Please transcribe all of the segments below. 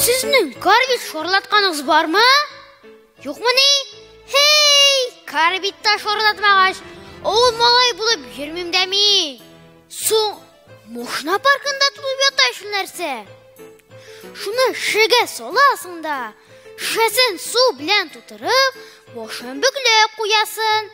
Сезнең карбит шорлатканыгыз бармы? Юкмыни? Хей, карбитта шорлатмагач, авыл малай булып йөрмим дә мин. Соң Мушна паркында тулып ята шул нәрсә. Шуны шегә саласың да, шешәсен су белән тутырып, башын бөкләп куясын.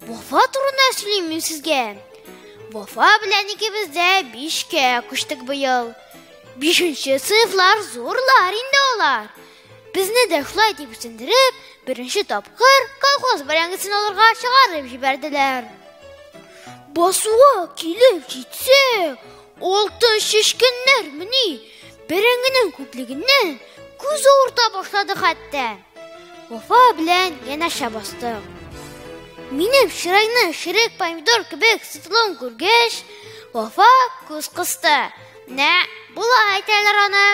Вафа турында сөйлим мин сезгә. Вафа белән икебез дә бишкә күчтек быел. Бишенче сыйфлар зурлар инде алар. Безне дә шулай дип үсендереп, беренче тапкыр колхоз бәрәңгесен алырга чыгарып җибәрделәр. Басуга килеп җитсә, алты шешкеннәр мени бәрәңгенең күплегеннән күз авырта башлады хәтта. Уфа белән янәшә бастым. Минем чырайны ширек помидор кебек сытылуын күргәч, Вафа күз кысты. Нә, була әйтәләр аны.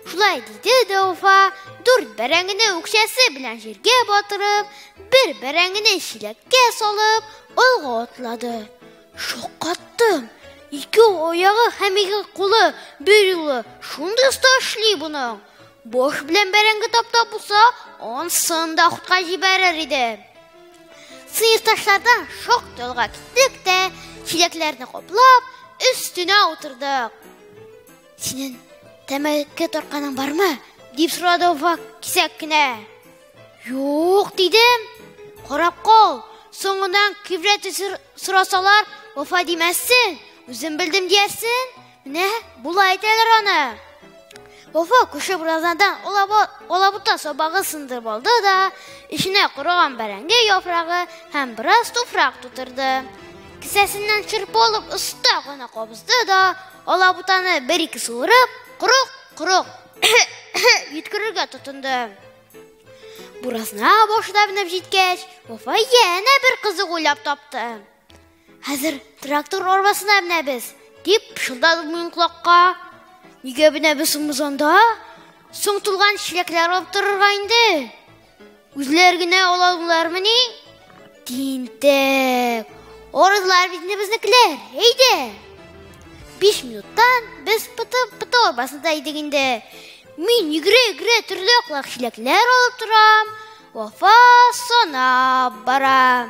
Шулай диде дә Уфа, дүрт бәрәңгене үкчәсе белән җиргә батырып, бер бәрәңгене чиләккә салып, алга атлады. Шаккаттым. Ике аяғы һәм ике кулы бер юлы шундый оста эшли буның. Баш белән бәрәңге таптап булса, ансын да хутка җибәрер иде. Сыйырташлардан шок ялга киттек тә, чиләкләрне каплап, өстенә утырдык. Синен тәмәке торканың бармы? дип сорады Уфак кисәк кенә. Юк, дидем. Карап кал. Соңыннан кибрәт сорасалар, вафа димәссен, үзем белдем диярсен. Менә болай әйтәләр аны. Вафа күрше буразнадан алабута сабагы сындырып алды да, эченә корыган бәрәңге яфрагы һәм бераз туфрак тутырды. Кесәсеннән чырпы алып оста гына кабызды да, алабутаны бер-ике суырып, корык, корык йөткерергә тотынды. Буразна башына менеп җиткәч, Вафа янә бер кызык уйлап тапты. Хәзер трактор арбасына менәбез, дип пышылдады минем колакка. Нигә менәбез соң без анда? Соң тулган чиләкләр алып торырга инде. Үзләр генә алалармыни? Тинтәк. Орызлар бит безнекеләр. Әйдә. 5 минуттан без пытып пыты арбасында идек инде. Мин игре-игре төрле аклак чиләкләр алып торам. Вафа сана бара.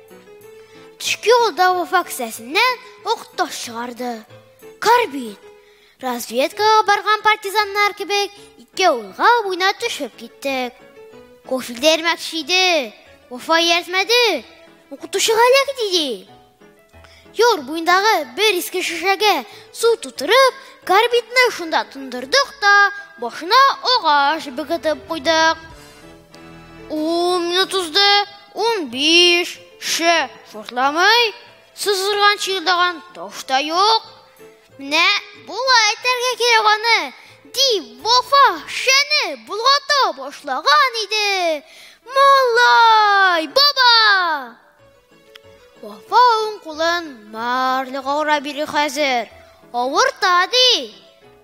Төшке юлда вафа кесәсеннән ук таш чыгарды. Карбин. Разведкага барган партизаннар кебек ике улга буйна төшеп киттек. Кофе дәрмәкче иде. Вафа ияртмәде. Укытучыга эләк диде. Юр буендагы бер иске шешәгә су тутырып, карбидны шунда тондырдык та, башына агач бөгетеп куйдык. Ун минут узды, ун биш, ше, шортламый, сызгырган чыйылдаган таш та юк. Менә була әйтәргә кирәк аны, дип Вафа шәне болгата башлаган иде. Малай, баба! Вафа уң кулын марлыга ура бири хәзер. Авырта ди.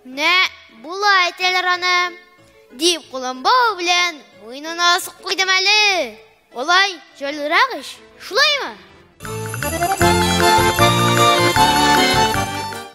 Менә була әйтәләр аны. Дип кулын бау белән муенына асып куйдым әле. Олай җайлырак ич, шулаймы?